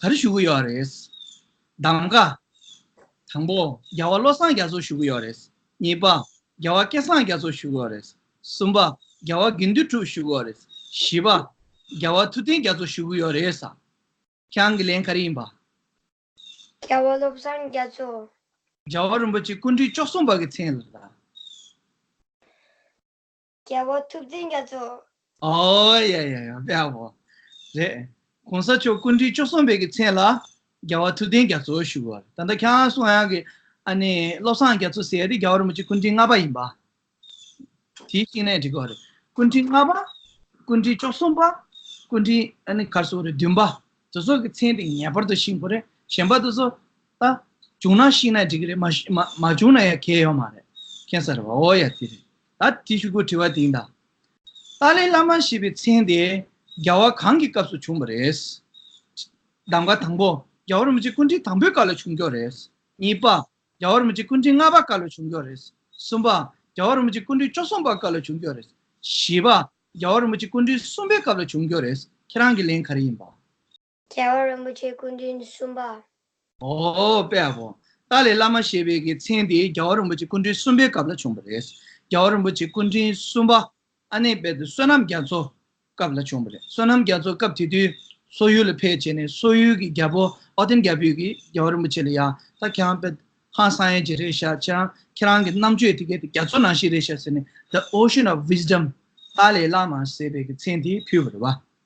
ག་རེ་ཞུ་གི་ཡོད་རེད། གདམ་ག། དང་པོ། རྒྱལ་བ་བློ་བཟང་རྒྱ་མཚོར་ཞུ་གི་ཡོད་རེད། གཉིས་པ། རྒྱལ་བ་སྐལ་བཟང་རྒྱ་མཚོར་ཞུ་གི་ཡོད་རེད། གསུམ་པ། རྒྱལ་བ་དགེ་འདུན་གྲུབ་ཞུ་གི་ཡོད་རེད། བཞི་པ། རྒྱལ་བ་ཐུབ་བསྟན་རྒྱ་མཚོར་ཞུ་གི་ཡོད་རེད། ཁྱེད་རང་གི་ལན་ག་རེ་ཡིན་པ། རྒྱལ་བ་བློ་བཟང་རྒྱ་མཚོ། རྒྱལ་བ་རིན་པོ་ཆེ་སྐུ་འཁྲུངས་བཅུ་གསུམ་པ་གི་ཚེས་ལ། རྒྱལ་པོ་ཐུབ་བསྟན་རྒྱ་མཚོ། ཨོའོ་ཡ་ཡ་ཡ་བྷེ་བྷོ། རེད། གོང་ས་མཆོག་སྐུ་འདྲིས་བཅུ་གསུམ་པའི་གི་མཚན་ལ། རྒྱལ་བ་ཐུབ་བསྟན་རྒྱ་མཚོ་ཞུ་བ། ད་ལྟ་ཁྱེད་རང་སུ་ཡང་གི། ཨ་ནི་བློ་བཟང་རྒྱ་མཚོ་ཟེར་ཏེ་རྒྱ་བོར་མི་བྱེད་སྐུ་འདྲིས་ལྔ་པ་ཡིན་པ། དེའི་གཅིག་ནས་འགྲིག་གོ། སྐུ་འདྲིས་ལྔ་པ། སྐུ་འདྲིས་བཅུ་གསུམ་པ། སྐུ་འདྲིས་ཨ་ནི་གར་སོ་རེ་བདུན་པ། དེ་ཚོ་གི་མཚན་དེ་ངེས་པར་དུ་ཤིང་བོ་རེད་གཞན་པ་དེ་ཚོ། ད། བྱུང་ན་ཤིང་ན་འགྲིག་གི་རེད་མ། མ་བྱུང་ན་ཡང་གལ་ཡོད་མ་རེད། མཁྱེན་ས་རེད་བྷོ་ཡ་དེ་རེད། ད་ཏི་ཤུ་གུ་དྲི་བ་དིང་དང། ཏཱ་ལའི་བླ་མ་ཞེས་པའི་མཚན་དེ་རྒྱ་བ་གང་གི་སྐབས་སུ་བྱུང་བ་རེད། གདམ་ག་དང་པོ་རྒྱ་བ་རིན་པོ་ཆེ་སྐུ་འཕྲེང་དང་པོའི་སྐབས་ལ་བྱུང་སྐྱོར་རེད། གཉིས་པ། རྒྱ་བ་རིན་པོ་ཆེ་སྐུ་འཕྲེང་ལྔ་པ་སྐབས་ལ་བྱུང་སྐྱོར་རེད། གསུམ་པ། རྒྱ་བ་རིན་པོ་ཆེ་སྐུ་འཕྲེང་བཅོ་གསུམ་པ་སྐབས་ལ་བྱུང་སྐྱོར་རེད། བཞི་པ། རྒྱ་བ་རིན་པོ་ཆེ་སྐུ་འཕྲེང་གསུམ་པའི་སྐབས་ལ་བྱུང་སྐྱོར་རེད། ཁྱེད་རང་གི་ལན་ག་རེ་ཡིན་པ། རྒྱལ་བ་རིན་པོ་ཆེ་སྐུ་མདུན་གསུམ་པ། ཨོ་དཔལ་ཧོ། ཏཱ་ལའི་བླ་མ་ཞེས་པའི་གི་མཚན་དེ་རྒྱལ་བ་རིན་པོ་ཆེ་སྐུ་མདུན་གསུམ་པའི་སྐབས་ལ་བྱུང་བ་རེད། རྒྱལ་བ་རིན་པོ་ཆེ་སྐུ་མདུན་གསུམ་པ་ཨ་ནེ་དཔལ་དུ་བསོད་ནམས་རྒྱ་མཚོ་སྐབས་ལ་བྱུང་བ་རེད། བསོད་ནམས་རྒྱ་མཚོ་སྐབས་དེ་དུས་སོག་ཡུལ་ལ་ཕེབས་བྱས་ནས་སོག་ཡུལ་གྱི་རྒྱལ་པོ་ཨོ་ཏིན་རྒྱལ་པོས་གི་རྒྱལ་བ་རིན་པོ་ཆེ་ལ་ཡང་ད་ཁྱེད་རང་དཔལ་ཧང་སང་ཡན་ཇེ་རེད་བཞག་ཁྱེད་རང་ཁྱེད་རང་གི་རྣམ་དཔྱོད་དེ་གས་དེ་རྒྱ་མཚོ་ནང་བཞིན་རེད་བཞག་ཟེར་ནས the ocean of wisdom ཏཱ་ལའི་བླ་མ་ཟེར་བའི་གི་མཚན་དེ་ཕུལ་བ་རེད་བ།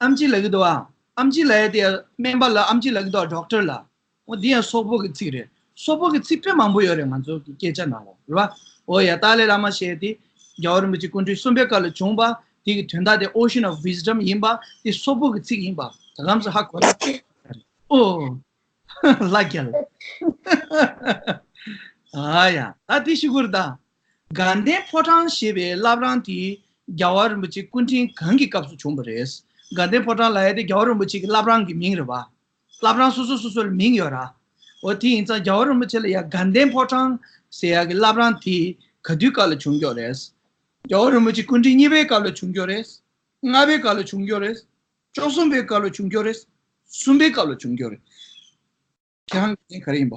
ཨམ་ཅི་ལ་གི་དོ། ཨམ་ཅི་ལ་ཡ་དེ་སྨན་པ་ལ་ཨམ་ཅི་ལ་གི་དོ Doctor ལ། འོ་འདི་ཡང་སོག་པོ་གི་ཚིག་རེད། སོག་པོ་གི་ཚིག་དཔེ་མང་པོ་ཡོད་རེད་ང་ཚོ་གི་སྐད་ཆ་ནང་ལོ། རེད་བ། འོ་ཡ་ཏཱ་ལའི་བླ་མ་ཞེས་དེ། རྒྱལ་བ་རིན་པོ་ཆེ་སྐུ་འཕྲེང་གསུམ་པའི་སྐབས་ལ་བྱུང་བ། དེ་གི་དོན་དག་དེ Ocean of Wisdom ཡིན་པ། དེ་སོག་པོ་གི་ཚིག་ཡིན་པ། ད་གམ་སུ་ཧ་གོ་ན། ཨོ། ལ་རྒྱལ། ཧཧཧ། དགའ་ལྡན་ཕོ་བྲང་ཞེས་པའི་བླ་བྲང་དེ་རྒྱལ་བ་རིན་པོ་ཆེ་སྐུ་འཕྲེང་གང་གི་སྐབས་སུ་བྱུང་བ་རེད། དགའ་ལྡན་ཕོ་བྲང་ལ་ཡ་དེ་རྒྱལ་བ་རིན་པོ་ཆེ་གི་བླ་བྲང་གི་མིང་རེད་བ། བླ་བྲང་སོ་སོ་སོ་སོ་ལ་མིང་ཡོད་ར། འོ་དེ་ཡིན་ཙང་རྒྱལ་བ་རིན་པོ་ཆེ་ལ་ཡ་དགའ་ལྡན་ཕོ་བྲང་ཟེར་ཡ་གི་བླ་བྲང་དེ་ག་དུས་སྐབས་ལ་བྱུང་མགྱོགས་རེད། རྒྱལ་བ་རིན་པོ་ཆེ་སྐུ་འཕྲེང་གཉིས་པའི་སྐབས་ལ་བྱུང་མགྱོགས་རེད། ལྔ་པའི་སྐབས་ལ་བྱུང་མགྱོགས་རེད། བཅོ་གསུམ་པའི་སྐབས་ལ་བྱུང་མགྱོགས་རེད། གསུམ་པའི་སྐབས་ལ་བྱུང་མགྱོགས་རེད། ཁྱེད་རང་ལ་ཡིན་ག་རེ་ཡིན་བ།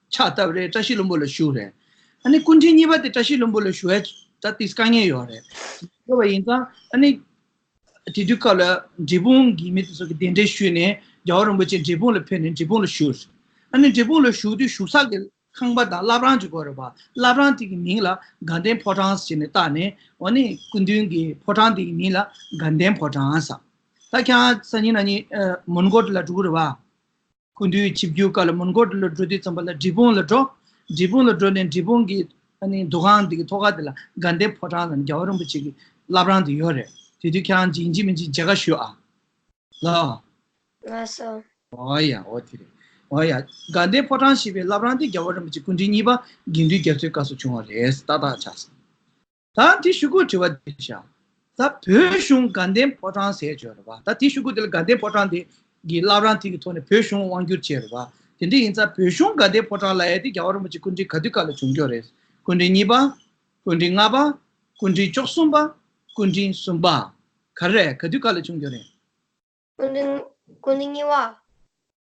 ཕྱག་བཏབ་རེད་བཀྲ་ཤིས་བློན་པོ་ལ་ཞུ་རེད། ཨ་ནི་སྐུ་མཁྲིན་གཉིས་པ་དེ་བཀྲ་ཤིས་བློན་པོ་ལ་ཞུ་ཡ་ད་དེས་དཀའ་ངལ་ཡོད་རེད། དགོས་པ་ཡིན་ཙང་ཨ་ནི། དེ་དུས་སྐབས་ལ་འབྲས་སྤུངས་གི་མི་དེ་ཚོ་གི་གདན་འདྲེན་ཞུས་ནས་རྒྱལ་བ་རིན་པོ་ཆེ་འབྲས་སྤུངས་ལ་ཕེབས་ནས་འབྲས་སྤུངས་ལ་ཞུ། ཨ་ནི་འབྲས་སྤུངས་ལ་ཞུ་དུས་ཞུ་ས་གི་ཁང་པ་དང་བླ་བྲང་གཅིག་དགོས་རེད་པ་བླ་བྲང་དེ་གི་མིང་ལ་དགའ་ལྡན་ཕོ་བྲང་ཟེར་ནས་བཏགས་ནས་ཨོ་ནི་སྐུ་མདུན་གི་ཕོ་བྲང་དེ་གི་མིང་ལ་དགའ་ལྡན་ཕོ་བྲང་ཟ། ད་ཁྱེད་རང་ས་ཉིན་ན་ཉིན་མོན་གྷོ་དེ་ལ་འགྲོ་གི་རེད་པ། ཀུན་འདུས་ཆིབས་བསྒྱུར་ཀ་ལ་མུན་སྐོར་དེ་ལ་འགྲོ་དུས་ཙམ་པ་ལ་འབྲི་སྤུངས་ལ་འགྲོ། འབྲི་སྤུངས་ལ་འགྲོ་ནས་འབྲི་སྤུངས་ཀྱི་འདུ་ཁང་དེ་གི་ཐོག་ཁ་དེ་ལ་དགའ་ལྡན་ཕོ་བྲང་ལ་རྒྱལ་བ་རིན་པོ་ཆེ་གི་བླ་བྲང་དེ་ཡོད་རེད། དེ་དུས་ཁྱེད་རང་འཇིགས་འཇིགས་མི་འཇིགས་མཇལ་ཁ་ཞུ་ཨ། ལ། ང་སོ། འོ་ཡ་འོ་དེ་རེད། འོ་ཡ། དགའ་ལྡན་ཕོ་བྲང་ཞེས་པའི་བླ་བྲང་དེ་རྒྱལ་བ་རིན་པོ་ཆེ་སྐུ་འཕྲེང་གཉིས་པ་དགེ་འདུན་རྒྱ་མཚོའི་བཀའ་སོགས་བྱུང་བ་རེད་ད་ཐག་ཆགས་སོང། ད་དེ་བཤུ་གུ་དྲི་བ་འདི་བྱའོ། ད་བོད་གཞུང་དགའ་ལྡན་ཕོ་བྲང་ཟས་བཅོས་རེད་པ་ད་དེ་བཤུ་གུ་དེ་ལ་དགའ་ལྡན་ཕོ་བྲང་དེ་གི་བླ་བྲང་དེ་གི་ཐོག་ནས་བོད་གཞུང་དབང་བསྒྱུར་བྱས་རེད་པ་དེ་འདྲ་ཡིན་ཙང་བོད་གཞུང་དགའ་ལྡན་ཕོ་བྲང་ལ་ཡ་དེ་རྒྱ་བ་རིན་པོ་ཆེ་སྐུ་དྲིན་ག་དུས་ག་ལ་བྱུང་སྐྱོ་རེད་སྐུ་དྲིན་གཉིས་པ། སྐུ་དྲིན་ལྔ་པ། སྐུ་དྲིན་བཅོ་གསུམ་པ། སྐུ་དྲིན་གསུམ་པ། ག་རེད་ག་དུས་ག་ལ་བྱུང་སྐྱོ་རེད། སྐུ་དྲིན་གཉིས་པ། སྐུ་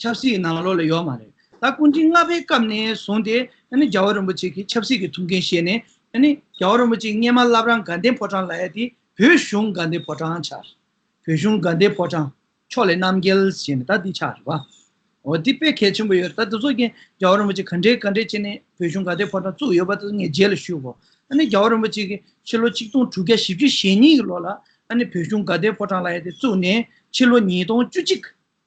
ཆབ་སྲིད་ནང་ལོགས་ལ་ཡོད་མ་རེད། ད་སྐུ་མགྲིན་ལྔ་པའི་སྐབས་ནས་བཟུང་སྟེ་རྒྱལ་བ་རིན་པོ་ཆེ་གིས་ཆབ་སྲིད་ཀྱི་ཐུགས་འགན་བཞེས་ནས། རྒྱལ་བ་རིན་པོ་ཆེའི་སྙེ་མ་བླ་བྲང་དགའ་ལྡན་ཕོ་བྲང་ལ་ཡལ་ཏེ་བོད་གཞུང་དགའ་ལྡན་ཕོ་བྲང་ཆགས། བོད་གཞུང་དགའ་ལྡན་ཕོ་བྲང། ཕྱོགས་ལས་རྣམ་རྒྱལ་ཞེས་ནས་ད་འདི་ཆགས་རེད་བ། འོ་དེ་དཔེ་གལ་ཆེན་པོ་ཡོད་རེད་ད་འདི་ཚོ་རྒྱལ་བ་རིན་པོ་ཆེ་ག་འདྲའི་ག་འདྲའི་བྱས་ནས་བོད་གཞུང་དགའ་ལྡན་ཕོ་བྲང་བཙུགས་ཡོད་པ་དེ་ངས་རྗེས་ལ་ཞུས་གོ། རྒྱལ་བ་རིན་པོ་ཆེ་གིས་ཕྱི་ལོ་ཆིག་སྟོང་དྲུག་བརྒྱ་བཞི་བཅུ་ཞེ་གཉིས་ཀྱི་ལོ་ལ་བོད་གཞུང་དགའ་ལྡན་ཕོ་བྲང་ལ་ཡལ་ཏེ་བཙུགས་ནས་ཕྱི་ལོ་ཉིས་སྟོང་བཅུ་གཅིག་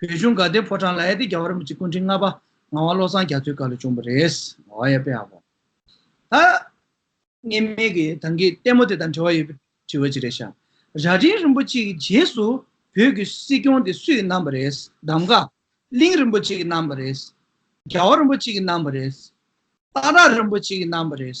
བོད་གཞུང་དགའ་ལྡན་ཕོ་བྲང་ལ་ཨེ་ཏི་རྒྱ་བ་རིན་པོ་ཆེ་སྐུ་འཕྲེང་ལྔ་པ་ངག་དབང་བློ་བཟང་རྒྱ་མཚོའི་བཀའ་ལས་བྱུང་བ་རེད། ཨོ་ཡ་དཔེ་ཧ་གོ། ད། གནས་མལ་གྱི་དང་གི་ལྟད་མོ་དེ་དང་འབྲེལ་བ་ཡོད་པའི་དྲི་བ་ཅིག་རེད་ཤག། རྭ་སྒྲེང་རིན་པོ་ཆེ་གི་རྗེས་སུ་བོད་ཀྱི་སྲིད་སྐྱོང་དེ་སུས་གནང་བ་རེད། གདམ་ག། གླིང་རིན་པོ་ཆེ་གི་གནང་བ་རེད། རྒྱ་བ་རིན་པོ་ཆེ་གི་གནང་བ་རེད། སྟག་བྲག་རིན་པོ་ཆེ་གི་གནང་བ་རེད།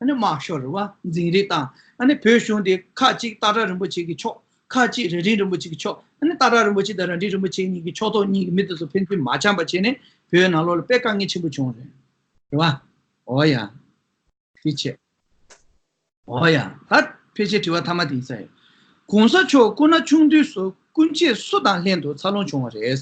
དམག་ཤོར་རུ་བ་འཛིང་རིགས་དང། བོད་གཞུང་དེ་ཁ་ཅིག་ཏཱ་ཀྲ་རིན་པོ་ཆེ་གི་ཕྱོགས། ཁ་ཅིག་རེ་རིང་རིན་པོ་ཆེ་གི་ཕྱོགས། ཏཱ་ཀྲ་རིན་པོ་ཆེ་དང་ར་འདྲི་རིན་པོ་ཆེ་གཉིས་ཀྱི་ཕྱོགས་གཏོགས་གཉིས་ཀྱི་མི་དེ་ཚོ་ཕན་ཚུན་མ་འཆམ་པ་བྱས་ནས་བོད་ནང་ལོག་ལ་དཔེ་དཀའ་ངལ་ཆེན་པོ་བྱུང་རེད་བ། འོ་ཡ། ཕལ་ཆེ། འོ་ཡ། ད་ཕལ་ཆེར་དྲི་བ་ཐ་མ་དེ་ཡིན་ས་ཡོད། གོང་ས་མཆོག་སྐུ་ན་ཆུང་དུས་སུ་སྐུ་མཆེད་སུ་དང་ལྷན་དུ་འཚར་ལོངས་བྱུང་བ་རེད།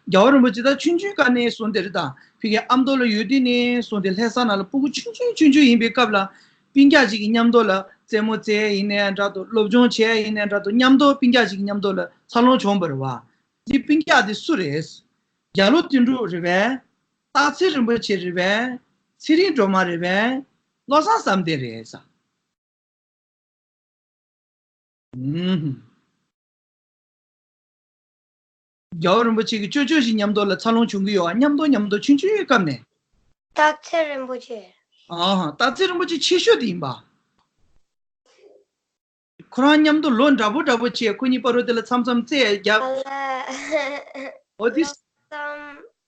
རྒྱལ་བ་རིན་པོ་ཆེ་ད་ཆུན་ཆུན་ཀ་ནས་སོང་དེར་དང་ཕི་གའི་ཨ་མདོ་ལ་ཡོད་དུས་ནས་སོང་དེ་ལྷས་ས་ན་ལ་སྤུ་གུ་ཆུན་ཆུན་ཆུན་ཆུན་ཡིན་པའི་སྐབས་ལ། སྤིན་རྒྱག་ཅིག་གི་མཉམ་དུ་ལ་རྩེད་མོ་རྩེ་ཡིན་ནས་འདྲ་དུ་སློབ་སྦྱོང་བྱས་ཡིན་ནས་འདྲ་དུ་མཉམ་དུ་སྤིན་རྒྱག་ཅིག་གི་མཉམ་དུ་ལ་འཚར་ལོངས་བྱུང་བར་བ། འདི་སྤིན་རྒྱག་འདི་སུ་རེད། རྒྱ་ལོ་བསྟན་འགྲུབ་རེད་བས། སྟག་འཚེར་རིན་པོ་ཆེ་རེད་བས། ཚེ་རིང་སྒྲོལ་མ་རེད་བས། བློ་བཟང་བསམ་གཏན་རེད། རྒྱལ་བ་རིན་པོ་ཆེ་གི་ཅོ་ཅོ་ཞིག་ཉམས་རྟོགས་ལ་འཚར་ལོངས་བྱུང་གི་ཡོད་ཨ་སྙམ་དོ་སྙམ་དུ་ཕྱིན་བཅུ་ཡོད་སྐབས་ནས། སྟག་འཚེར་རིན་པོ་ཆེ། སྟག་འཚེར་རིན་པོ་ཆེ་ཆེ་ཤོས་དེ་ཡིན་པ། ཁོ་རང་སྙམ་དུ་ལོ་འདྲ་པོ་འདྲ་པོ་བྱས་ཁོ་གཉིས་པ་རོ་དེ་ལ་མཚམས་མཚམས་བརྩེགས་བརྒྱབ། ཨོ་དེ།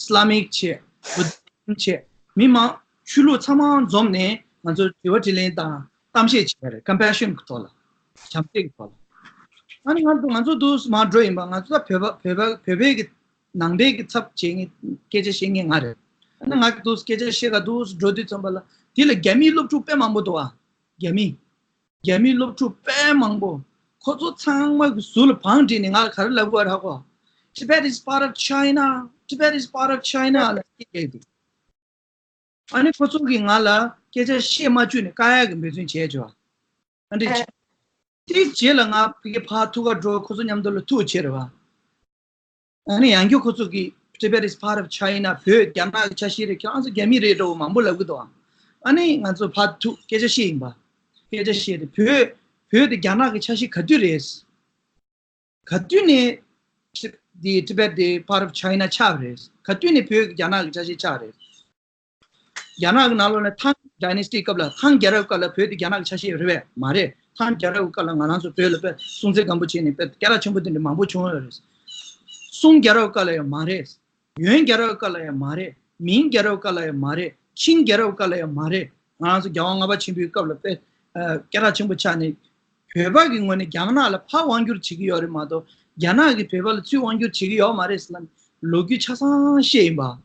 Islamic། ཆེད Buddhism། ཆེད་མི་མང་ཆོས་ལུགས་ཚང་མ་འཛོམས་ནས་ང་ཚོར་དྲི་བ་དྲིས་ལན་དང་གཏམ་བཤད་བྱས་པ་རེད Compassion གི་ཐོག་ལ། བྱམས་བརྩེ་གི་ཐོག་ལ། ང་ནི་ང་ཚོ་སྡུག་ཟ་མ་འགྲོ་ཡིན་པ་ང་ཚོ་ད་བོད་པ་བོད་པའི་གི་ནང་པའི་གི་ཚབ་བྱེད་ངེས་སྐད་ཆ་བཤད་ངེས་ང་རེད། ང་ནི་ང་སྡུག་ཟ་སྐད་ཆ་བཤད་ག་སྡུག་ཟ་འགྲོ་དུས་ཚོམས་པ་ལ་དེ་ལ་རྒྱ་མིའི་སློབ་ཕྲུག་དཔེ་མང་པོ་འདུག་ཨ། རྒྱ་མིའི། རྒྱ་མིའི་སློབ་ཕྲུག་དཔལ་མང་པོ། ཁོ་ཚོ་ཚང་མ་གི་ཟུར་ལ་བང་བསྒྲིགས་ནས་ང་ལ་ག་རེ་ལབ་དགོས་ར་གོ། Tibet is part of China Tibet is part of China ལ་སྐད་རྒྱག་གི་འདུག། ཨ་ནི་ཁོ་ཚོ་གིས་ང་ལ་སྐད་ཆ་བཤད་མ་བཅུག་ནས་དཀའ་ཡག་གི་འབད་བརྩོན་བྱས་བྱས་བ། ཨ་འདྲེ་བྱས། དེའི་རྗེས་ལ་ང་ཕི་གེ་ཕ་ཐུག་ག་འགྲོ་ཁོ་ཚོ་མཉམ་དུ་ལ་ཐུག་ཕྱིར་བ། ཡང་རྒྱུ་ཁོ་ཚོ་གིས Tibet is part of China བོད་རྒྱ་ནག་གི་ཆ་ཤས་རེད་ཁྱོད་ཨང་རྩོད་རྒྱ་མི་རེད་འགྲོ་བ་མང་པོ་ལབ་གི་འདུག་ཨང། ཨ་ནི་ང་ཚོ་ཕ་ཐུག་སྐད་ཆ་བཤད་ཡིན་པ། སྐད་ཆ་བཤད་དེ་བོད་བོད་དེ་རྒྱ་ནག་གི་ཆ་ཤས་ག་དུས་རེད། ག་དུས་ནས Tibet དེ Part of China ཆགས་པ་རེད། ག་དུས་ནས་བོད་རྒྱ་ནག་གི་ཆ་ཤས་ཆགས་རེད། རྒྱ་ནག་གི་ནང་ལོགས་ནས Tang Dynasty སྐབས་ལ Tang རྒྱལ་རབས་སྐབས་ལ་བོད་དེ་རྒྱ་ནག་གི་ཆ་ཤས་རེད་བས་མ་རེད། Tang རྒྱལ་རབས་སྐབས་ལ་ང་རང་ཚོ་བོད་ལ་དཔེ་སྲུང་ཚད་སྒམ་པོ་བྱས་ནས་དཔེ་སྐད་རགས་ཆེན་པོ་འདི་འདྲ་མང་པོ་བྱུང་ཡོད་རེད། Sung རྒྱལ་རབས་སྐབས་ལ་ཡང་མ་རེད། Yuan རྒྱལ་རབས་སྐབས་ལ་ཡང་མ་རེད། Ming རྒྱལ་རབས་སྐབས་ལ་ཡང་མ་རེད། Qing རྒྱལ་རབས་སྐབས་ལ་ཡང་མ་རེད། ང་རང་ཚོ་རྒྱལ་དབང་ལྔ་པ་ཆེན་པོའི་སྐབས་ལ་དཔེ་སྐད་རགས་ཆེན་པོ་ཆགས་ནས། བོད་པ་གི་ངོས་ནས་རྒྱ་ནག་ལ་ཕར་དབང་བསྒྱུར་བྱེད་ཀྱི་ཡོད་རེད་མ་གཏོགས་རྒྱ་ནག་གིས་བོད་པ་ལ་ཚུར་དབང་བསྒྱུར་བྱེད་ཀྱི་ཡོད་མ་རེད་ཟེར་ན་ལོ་རྒྱུས་ཆ་ཚང་ཤེས་ཡིན་པ།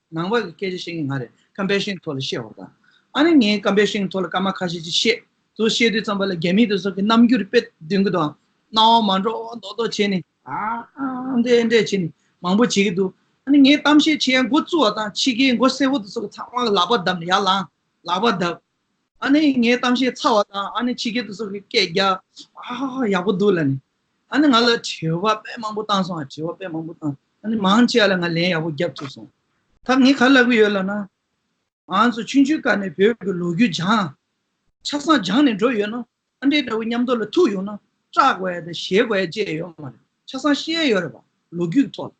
ནང་བ་གི་སྐད་ཆ་བཤད་མཁན་ང་རེད་ཀམ་པའི་ཤིང་ཐོག་ལ་བཤད་བར་དང། ཨ་ནི་ངས་ཀམ་པའི་ཤིང་ཐོག་ལ་སྐར་མ་ཁ་ཤས་ཅིག་བཤད། དུ་བཤད་དུས་ཙམ་པ་ལ་རྒྱ་མི་དེ་ཚོ་གི་རྣམ་འགྱུར་དཔེ་བདུན་གི་དང། སྣང་བ་མ་འགྲོ་འོ་མདོག་མདོག་བྱས་ནས། ཨང། འདྲེ་འདྲེ་བྱས་ནས་མང་པོ་བྱེད་ཀྱི་འདུག་ཨ་ནི་ངས་གཏམ་བཤད་བྱེད་ཡ་མགོ་བཙུགས་བ་དང་ཕྱི་རྒྱལ་མགོ་སེར་བོ་དེ་ཚོ་གི་ཚང་མ་ལ་ལག་པ་བརྡབས་ནས་ཡར་ལངས། ལག་པ་བརྡབས། ཨ་ནི་ངས་གཏམ་བཤད་ཚར་བ་དང་ཨ་ནི་ཕྱི་རྒྱལ་དེ་ཚོ་གི་སྐད་རྒྱག། ཧཧཧ་ཡག་པོ་འདུག་ལ་ནི། ཨ་ནི་ང་ལ་དྲི་བ་དཔེ་མང་པོ་བཏང་སོང་ཨ་དྲི་བ་དཔེ་མང་པོ་བཏང་ཨ་ནི་མང་ཆེ་བ་ལ་ང་ལན་ཡག་པོ་རྒྱབ་ཐུབ་སོང་ད་ངས་ག་ལབ་གི་ཡོད་ལབ་ན། ང་ཚོ་ཆུང་ཆུང་སྐབས་ནས་བོད་ཀྱི་ལོ་རྒྱུས་སྦྱངས། ཆགས་སང་སྦྱངས་ནས་འགྲོ་ཡོད་ན། ཨ་འདྲེ་འདྲ་བོ་མཉམ་དུ་ལ་ཐུག་ཡོང་ན་སྐྲག་བས་དང་ཞེད་བས་བཅས་ཡོད་མ་རེད། ཆགས་སང་ཤེས་ཡོད་རེད་བ་ལོ་རྒྱུས་ཀྱི་ཐོག་ལ།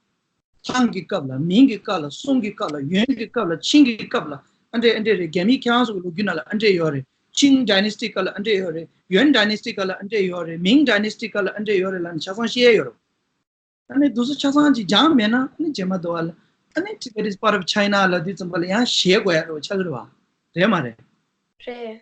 ལྷའམ་གྱི་སྐབས་ལ་མིང་གི་སྐབས་ལ་གསུང་གི་སྐབས་ལ་ཡོན་གྱི་སྐབས་ལ་ཆིང་གི་སྐབས་ལ་ཨ་འདྲེ་ཨ་འདྲེ་རེད་རྒྱ་མིའི་ཁྱད་དབང་སོགས་ཀྱི་ལོ་རྒྱུས་རྣམས་ལ་ཨ་འདྲེ་ཡོད་རེད་ཆིང Dynasty སྐབས་ལ་ཨ་འདྲེ་ཡོད་རེད་ཡོན Dynasty སྐབས་ལ་ཨ་འདྲེ་ཡོད་རེད་མིང Dynasty སྐབས་ལ་ཨ་འདྲེ་ཡོད་རེད་ལ་ནི་ཆ་ཚང་ཤེས་ཡས་ཡོད་རེད། ད་ནི་དུས་སུ་ཆ་ཚང་གཅིག་སྦྱངས་མེད་ན་ཨ་ནི་བྱེད་མ་འདོད་བ་ལ་ཨ་ནི Tibet is part of China ལ་དུས་ཙམ་པ་ལ་ཡང་ཞེས་གོ་ཡ་རེད་བ་ཆ་ཚུར་བ་རེད་མ་རེད། རེད།